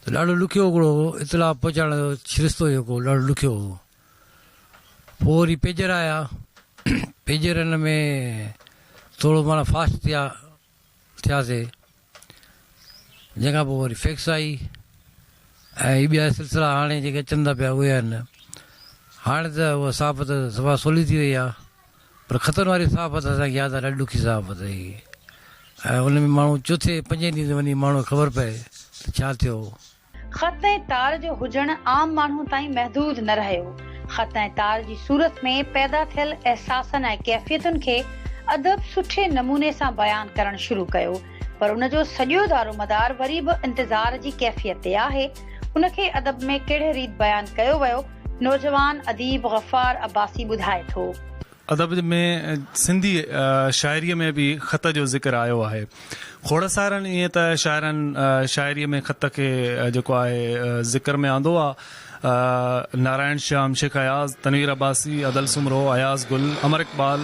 ته ڏاڍو ڏکيو ھڪڙو ھو اطلاع پھچائڻ جو سرشتو جيڪو ڏاڍو ڏکيو ھو پوء وري پيجر آيا پيجرن ۾ ٿورو معنيٰ فاسٽ ٿيا ٿياسي جنهن کان پوء وري فيڪس آئي ۽ هي ٻيا سلسلا هاڻي جيڪي اچن ٿا پيا اهي آهن. هاڻي ته اها صحافت صفا سولي ٿي وئي آهي پر خطن واري صحافت اسان کي ياد آهي ڏاڍي ڏکي صحافت هئي ۽ ان ۾ ماڻهو چوٿين پنجين ڏينهن تي وڃي ماڻهو کي خبر پئي ته ڇا ٿيو. خط ۽ تار جو هجڻ عام ماڻهو تائين محدود نه رهيو. خط ۽ تار جي صورت ۾ پيدا ٿيل احساسن ۽ ڪيفيتن کي ادب سٺي نموني سان بيان ڪرڻ شروع ڪيو، پر ان جو سڄو دارومدار وري به انتظار جي ڪيفيت تي آهي. ان کي ادب ۾ ڪهڙي ريت بيان ڪيو ويو، نوجوان اديب غفار عباسي ٻڌائي ٿو. ادب ۾ سنڌي شاعريء ۾ به خط جو ذڪر آيو آهي. کوڙ سارن ائين ته شاعرن شاعريء ۾ خط کي جيڪو آهي ذڪر ۾ آندو آهي. نارائڻ شيام، شيخ اياز، تنوير عباسي، ادل سومرو، اياز گل، امر اقبال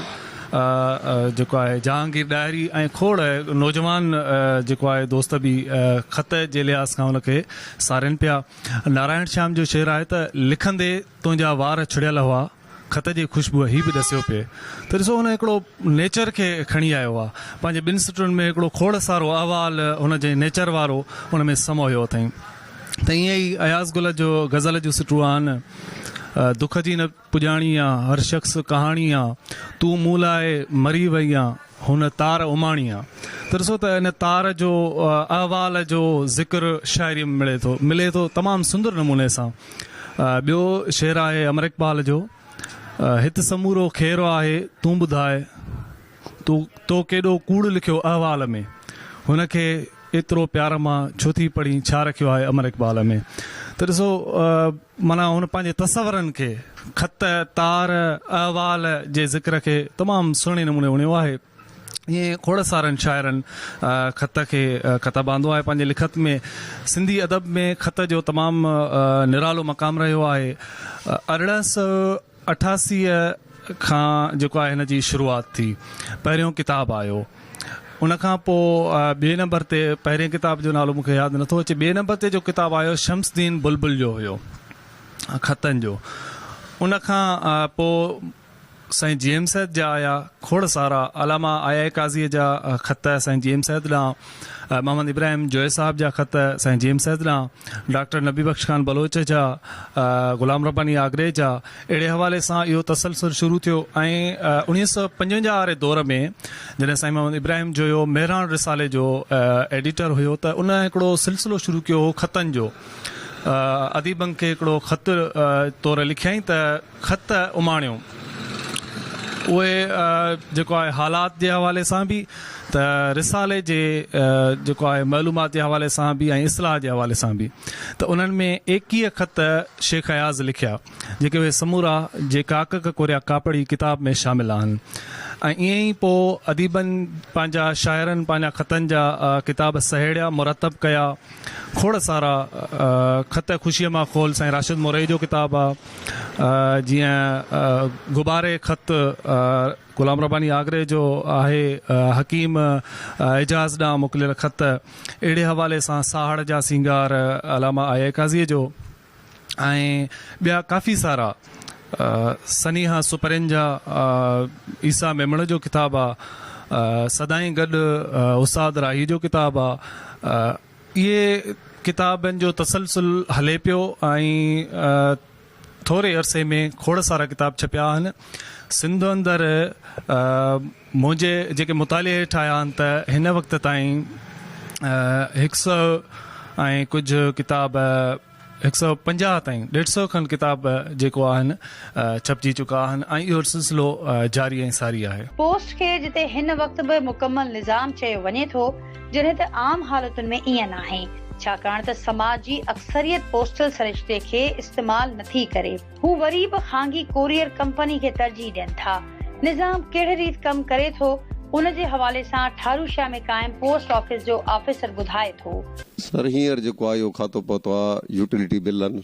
جيڪو آهي جهانگير ڏاهري ۽ کوڙ نوجوان جيڪو آهي دوست به خط جي لحاظ کان ان کي سارين پيا. نارائڻ شيام جو شعر آهي ته، لکندي تنهنجا وار ڇڙيل هئا. خط جي خوشبوء هي به ڏسيو پئي ته ڏسو هن هڪڙو نيچر کي کڻي آيو آ. پنهنجي ٻن سٽن ۾ هڪڙو کوڙ سارو احوال هن جي نيچر وارو ان ۾ سموهيو اٿئين. ته ائين ئي اياز گل جو غزل جون سٽون آهن، دک جي نه پڄاڻي آ، هر شخص ڪهاڻي آ، تون مون لاء مري وئي آ، هن تار اماڻي آ. ته ڏسو ته ان تار جو احوال جو ذڪر شاعريء ۾ ملي ٿو، ملي ٿو تمام سندر نموني سان. ٻيو شعر آهي امر اقبال جو. هت سمورو خير آهي تون ٻڌاء تو تو ڪيڏو ڪوڙ لکيو احوال ۾. هن کي ايترو پيار مان ڇو ٿي پڙهين ڇا رکيو آهي امر اقبال ۾. ته ڏسو معنيٰ هن پنهنجي تصورن کي خط، تار، احوال جي ذڪر کي تمام سهڻي نموني وڻيو آهي. ائين کوڙ سارن شاعرن خط کي ڪتب آندو آهي پنهنجي لکت ۾. سنڌي ادب ۾ خط جو تمام نرالو مقام رهيو آهي. ارڙهن سؤ اٺاسي کان جيڪو آهي هن جي شروعات ٿي. پهريون ڪتاب آيو. ان کان پوء ٻئي نمبر تي پهرين ڪتاب جو نالو مون کي ياد نٿو اچي. ٻئي نمبر تي جو ڪتاب آيو شمس دين بلبل جو هيو خطن جو. ان کان پوء سائين جي ايم سيد جا آيا کوڙ سارا علامه آء آء قاضيء جا خط سائين جي ايم سيد ڏانهن، محمد ابراهيم جويي صاحب جا خط سائين جي ايم سيد ڏانهن، ڊاڪٽر نبي بخش خان بلوچ جا، غلام رباني آگري جا، اهڙي حوالي سان اهو تسلسل شروع ٿيو ۽ اوڻيهه سؤ پنجونجاهه واري دور ۾ جڏهن سائين محمد ابراهيم جويو مهراڻ رسالي جو ايڊيٽر هيو ته ان هڪڙو سلسلو شروع ڪيو هو خطن جو، اديبن کي هڪڙو خط طور لکيائين ته. خط اماڻيو اهي جيڪو آهي حالات جي حوالي سان به ته رسالي جي جيڪو آهي معلومات جي حوالي سان به ۽ اصلاح جي حوالي سان به ته انهن ۾ ايڪيهه خط شيخ اياز لکيا جيڪي اهي سمورا جي ڪاڪڪ ڪوريا ڪاپڙي ڪتاب ۾ شامل آهن ۽ ائين ئي پوء اديبن پنهنجا شاعرن پنهنجا خطن جا ڪتاب سهيڙيا مرتب ڪيا کوڙ سارا خط خوشيء مان کول سائين راشد مورئي جو ڪتاب آ جيئن غباري خط غلام رباني آگري جو آهي حڪيم اعجاز ڏانهن موڪليل خط اهڙي حوالي سان ساهڙ جا سينگار علامه آء اي قاضيء جو ۽ ٻيا ڪافي سارا سنيها سپرين جا عيسيٰ ميمڻ جو ڪتاب آ سدائين گڏ استاد راهي جو ڪتاب آ اهي ڪتابن جو تسلسل هلي پيو ۽ ٿوري عرصي ۾ کوڙ سارا ڪتاب ڇپيا آهن سنڌ اندر منهنجي جيڪي مطالعي هيٺ آيا آهن ته هن وقت تائين هڪ سئو ۽ ڪجهه ڪتاب هڪ سئو پنجاهه تائين ڏيڍ سئو کن ڪتاب جيڪو آهن ڇپجي چڪا آهن ۽ اهو سلسلو جاري ۽ ساري آهي. پوسٽ کي جتي هن وقت به مڪمل نظام چيو وڃي ٿو جڏهن ته عام حالتن ۾ ائين ناهي ڇاڪاڻ ته سماج جي اڪثريت پوسٽل سرشتي کي استعمال نٿي ڪري. هو وري به خانگي ڪوريئر ڪمپني کي ترجيح ڏين ٿا. نظام ڪهڙي ريت ڪم ڪري ٿو، ان جي حوالي سان ٺاروشيا ۾ قائم پوسٽ آفيس جو آفيسر ٻڌائي ٿو. سر هينئر جيڪو آء او کاتو پهتو آ، يوٽيلٽي بلن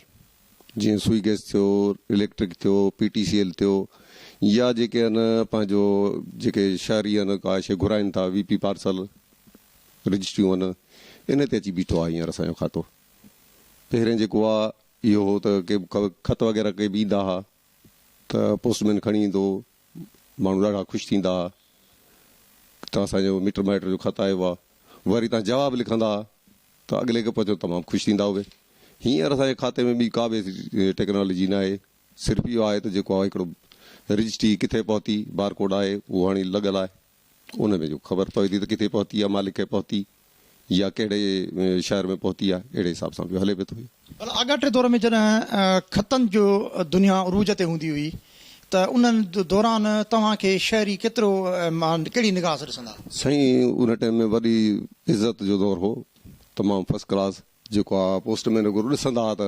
جيئن سوئي گئس ٿيو، اليڪٽرڪ ٿيو، پي ٽي سي ايل ٿيو يا جيڪي آهن پنهنجو جيڪي شهري آهن ڪا شيء گهرائن ٿا وي پي پارسل رجسٽريون آهن ان تي اچي بيٺو آ هينئر اسان جو کاتو. پهرين جيڪو آ اهو هو ته ڪي به خط وغيره ڪي به ايندا ها ته پوسٽ مين کڻي ايندو هو ماڻهو ڏاڍا خوش ٿيندا ها ته اسان جو مٽ مائٽ جو خط آيو آهي وري تان جواب لکندا ها ته اڳلي کي پهچو تمام خوش ٿيندا هئي هينئر اسان جي کاتي ۾ ٻي ڪا به ٽيڪنالاجي ناهي صرف اهو آهي ته جيڪو هڪڙو رجسٽي ڪٿي پهتي بارڪوڊ آهي اهو هاڻي لڳل آهي. انهن ۾ جو خبر پوي ٿي ته ڪٿي پهتي آهي، مالڪ ڪنهن پهتي يا ڪهڙي شهر ۾ پهتي آهي، اهڙي حساب سان پيو هلي به ٿو. ڀلا آڳاٽي دور ۾ جڏهن خطن جو دنيا عروج تي هوندي هئي ته انهن دوران توهان کي شهري ڪيترو مان ڪهڙي نگاهه سان ڏسندا هئا؟ سائين ان ٽائيم ۾ وڏي عزت جو دور هو، تمام فرسٽ ڪلاس، جيڪو آ پوسٽ مين وغيرو ڏسندا هئا ته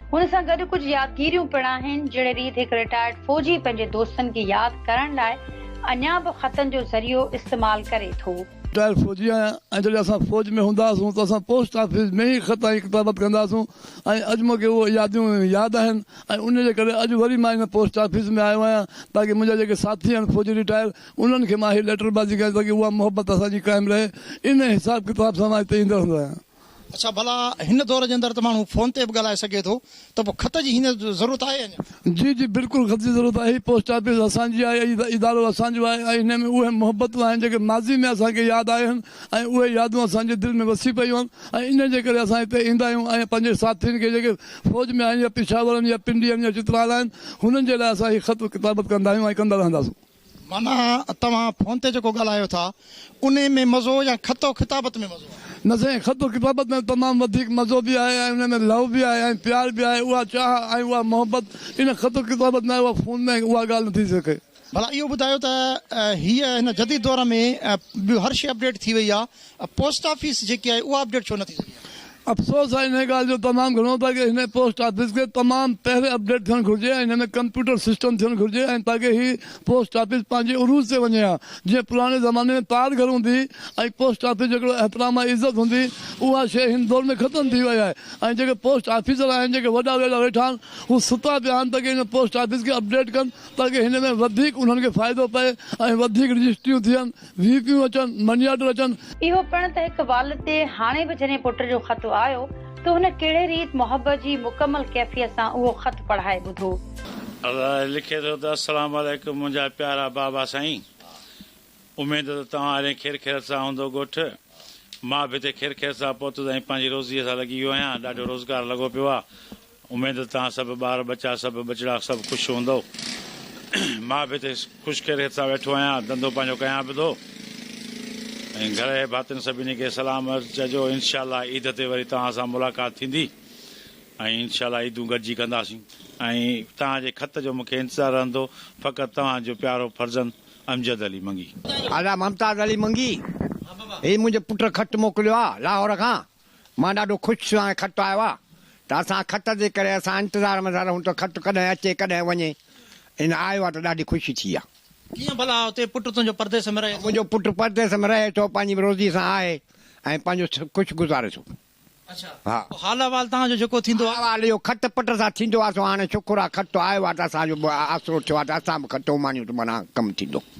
هن سان گڏ ڪجهه يادگيريون پڻ آهن، جهڙي ريت هڪ رٽائرڊ فوجي پنهنجي دوستن کي ياد ڪرڻ لاء اڃا به خطن جو ذريعو استعمال ڪري ٿو. رٽائرڊ فوجي آهيان ۽ جڏهن اسان فوج ۾ هوندا هئاسون ته اسان پوسٽ آفيس ۾ ئي خط ۽ ڪتابت ڪندا هئاسون ۽ اڄ مون کي اهي ياديون ياد آهن ۽ انهيء جي ڪري اڄ وري مان هن پوسٽ آفيس ۾ آيو آهيان تاڪه منهنجا جيڪي ساٿي آهن فوجي رٽائر انهن کي مان هي ليٽر بازي ڪيان تاڪه اها محبت اسان جي قائم رهي. انهيء حساب ڪتاب سان مان هتي ايندو رهندو آهيان. اڇا ڀلا هن دور جي اندر ته ماڻهو فون تي به ڳالهائي سگهي ٿو ته پوء خط جي هينئر ضرورت آهي اڃا؟ جي جي بلڪل خط جي ضرورت آهي پوسٽ آفيس اسان جي آهي ۽ ادارو اسان جو آهي ۽ ان ۾ اهي محبتون آهن جيڪي ماضي ۾ اسان کي ياد آيون ۽ اهي يادون اسان جي دل ۾ وسي پيون آهن ۽ ان جي ڪري اسان هتي ايندا آهيون ۽ پنهنجي ساٿين کي جيڪي فوج ۾ آهن يا پشاور آهن يا پنڊي آهن يا چترال آهن هنن جي لاء اسان هي خط ڪتابت ڪندا آهيون ۽ ڪندا رهنداسون. معنيٰ توهان فون تي جيڪو ڳالهايو ٿا انهي ۾ مزو يا خط و خطابت ۾ مزو آهي؟ نه سائين خط و خطابت ۾ تمام وڌيڪ مزو به آهي ۽ ان ۾ لو به آهي ۽ پيار به آهي اها چاهه ۽ اها محبت ان خط و خطابت ۾ آهي اها فون ۾ اها ڳالهه نه ٿي سگهي. ڀلا اهو ٻڌايو ته هيء هن جديد دور ۾ ٻيو هر شيء اپڊيٽ ٿي وئي آهي پوسٽ آفيس جيڪي آهي اها اپڊيٽ ڇو نه ٿي سگهي آهي؟ افسوس آهي انهيء ڳالهه جو تمام گهڻو ته اڳي هن پوسٽ آفيس کي تمام پهرين اپڊيٽ ٿيڻ گهرجي ۽ هن ۾ ڪمپيوٽر سسٽم ٿيڻ گهرجي ۽ تاڪه هي پوسٽ آفيس پنهنجي عروج تي وڃي ها جيئن پراڻي زماني ۾ پار گهر هوندي ۽ پوسٽ آفيس جو هڪڙو احترام ۽ عزت هوندي اها شيء هن دور ۾ ختم ٿي وئي آهي ۽ جيڪي پوسٽ آفيسر آهن جيڪي وڏا ويڙا ويٺا آهن هو ستا پيا آهن تاڪه هن پوسٽ آفيس کي اپڊيٽ ڪن تاڪه هن ۾ وڌيڪ انهن کي فائدو پئي ۽ وڌيڪ رجسٽريون ٿين وي پيون اچن، مني آرڊر اچن. اهو پڻ ته هڪ والد تي هاڻي به جڏهن پٽ جو خط آيو ته هن ڪهڙي ريت محبت جي مڪمل ڪيفيت سان اهو خط پڙهائي ٻڌو. الاهي لکي ٿو ته السلام عليڪم منهنجا پيارا بابا سائين اميد ته توهان هارين خير خيرت سان هوندو ڳوٺ مان به هتي خير خيرت سان پهتس ۽ پنهنجي روزي سان لڳي ويو آهيان ڏاڍو روزگار لڳو پيو آهي اميد توهان سڀ ٻار ٻچا سڀ ٻچڙا سڀ خوش هوندؤ. مان به هتي خوش خيريت سان ويٺو آهيان ڌنڌو پنهنجو ڪيان به ٿو ۽ گهر اهي ڀاتين سڀني کي سلام عرض چئجو انشاء الله عيد تي وري توهان سان ملاقات ٿيندي ۽ انشاء الله عيدون گڏجي ڪنداسين. ۽ توهان جي خط جو مونکي انتظار رهندو فقط توهان جو پيارو فرزند امجد علي منگي. ادا ممتاز علي منگي هي منهنجي پٽ خط موڪليو آ لاهور کان. مان ڏاڍو خوش ٿيو آهيان خط آيو آهي ته اسان خط جي ڪري اسان انتظار ۾ ٿا رهون ته خط ڪڏهن اچي ڪڏهن وڃي ان آيو آهي ته ڏاڍي خوشي ٿي آهي. ڪيئن ڀلا اتي پٽ تنهنجو پرديس ۾ رهي ٿو؟ منهنجو پٽ پرديس ۾ رهي ٿو پنهنجي روزي سان آهي ۽ پنهنجو خوش گذاري ٿو. اڇا ها. پوء حال احوال تنهان جو جيڪو ٿيندو آهي. حال احوال اهو خط پٽ سان ٿيندو آهي سو هاڻي شڪر آهي خط آيو آهي ته اسان جو به آسرو ٿيو آهي ته اسان به خط اماڻيون ته معنيٰ ڪم ٿيندو.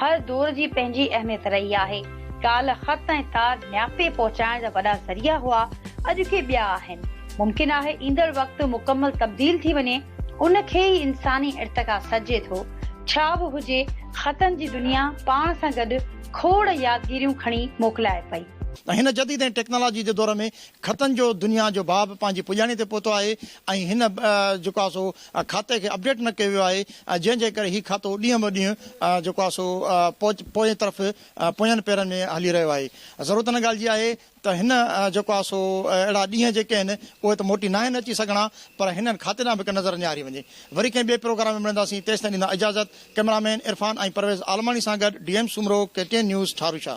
هر دور جي پنهنجي اهميت رهي آهي. ڪالهه خط ۽ تار نياپي پهچائڻ جا وڏا ذريعا هئا، اڄ ڪي ٻيا آهن. ممڪن آهي ايندڙ وقت مڪمل تبديل ٿي وڃي، ان کي ئي انساني ارتقا سڏجي ٿو. ڇا به هجي، خطن جي دنيا پاڻ سان گڏ کوڙ يادگيريون کڻي موڪلائي پئي. هن جديد ۽ ٽيڪنالاجي جي دور ۾ خطن جو دنيا جو باب پنهنجي پڄاڻي تي پهتو آهي ۽ هن جيڪو آهي سو کاتي کي اپڊيٽ نه ڪيو ويو آهي جنهن جي ڪري هي کاتو ڏينهن به ڏينهن جيڪو آهي سو پوئين طرف پوئين پيرن ۾ هلي رهيو آهي ضرورت ان ڳالهه جي آهي ته هن جيڪو آهي سو اهڙا ڏينهن جيڪي آهن اهي ته موٽي ناهن اچي سگهڻا پر هنن کاتي ڏانهن به هڪ نظر نهاري وڃي وري ڪنهن ٻئي پروگرام ۾ ملنداسين تيستائين ڏيندا اجازت ڪئميرا مين عرفان ۽ پرويز عالماڻي سان گڏ D M Soomro K T N news Tharushah.